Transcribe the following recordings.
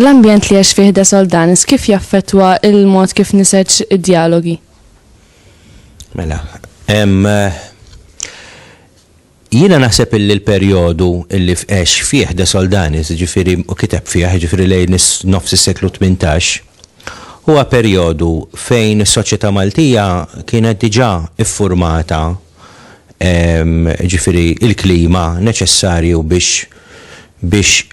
L-ambjent li għax fih da soldanis kif jaffetwa il-mod kif niseċ id-dialogi? Mela, eh, Jiena naħseb illi l-perjodu illi għex fih De Soldanis, jiġifieri, u kiteb fih, jiġifieri lejn nofs is-seklu tmintax, huwa perjodu fejn is-soċjetà Maltija kienet diġà ffurmata, jiġifieri l-klima neċessarju biex biex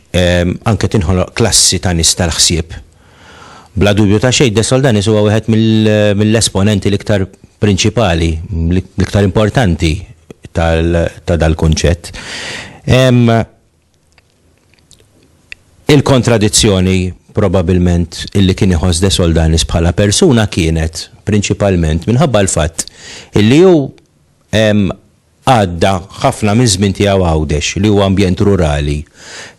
anke tinħoloq klassi ta' nies tal-ħsieb. Bla dubju ta' xejn, De Soldanis huwa wieħed mill-esponenti l-iktar prinċipali, l-iktar importanti ta' dal-kunċett. Hemm il-kontradizzjoni probabilment illi kien iħoss De Soldanis bħala persuna kienet prinċipalment minħabba l-fatt illi hu Għadda ħafna miż-żmien tiegħu Għawdex, li huwa ambjent rurali.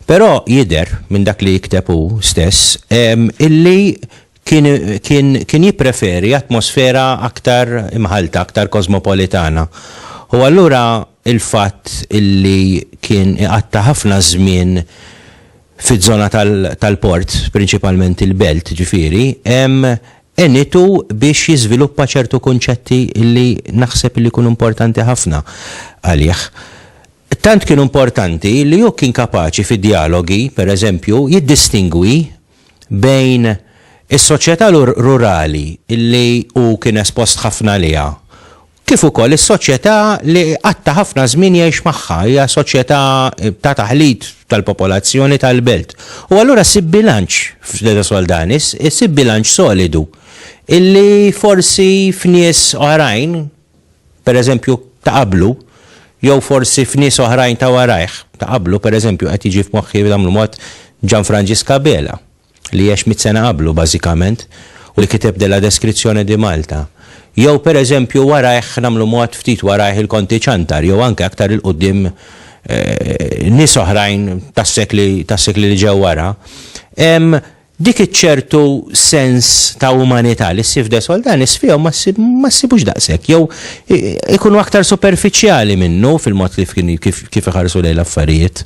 Però jidher, minn dak li jikteb hu stess, illi kien jippreferi atmosfera aktar imħallta, aktar kosmopolitana. U allura l-fatt illi kien iqatta' ħafna żmien fiż-żona tal-port, prinċipalment il-belt, ġifieri, għenitu biex jiżviluppa ċertu kunċetti li naħseb li jkunu importanti ħafna għalih. Tant kienu importanti li hu kien kapaċi fi djalogi, per eżempju, jiddistingwi bejn is-soċjetà rurali li hu kien espost ħafna għaliha kif ukoll is-soċjetà li qatt ta' ħafna żmien jgħix magħha, hija soċjetà ta' taħlit tal-popolazzjoni tal-belt. U allura ssib bilanċ f'De Soldanis, issib bilanċ solidu illi forsi f'nies oħrajn, pereżempju ta' qablu, jew forsi f'nies oħrajn ta' warajh, ta' qablu pereżempju qed jiġi f'moħħi bl-mod Ġanfranġisk Abela. li għex mitt sena qablu bażikament u li kiteb Della Descrizione di Malta. Jew pereżempju warajh, nagħmlu mod, ftit warajh il-Konti Ciantar jew anke aktar 'il quddiem nies oħrajn tas-sekli tas-sekli li ġew wara, hemm dik iċ-ċertu sens ta' umanità li ssib f'De Soldanis fihom ma ssib ma ssibux daqshekk jew ikunu aktar superfiċjali minnu fil-mod kif kif kif iħarsu lejn l-affarijiet.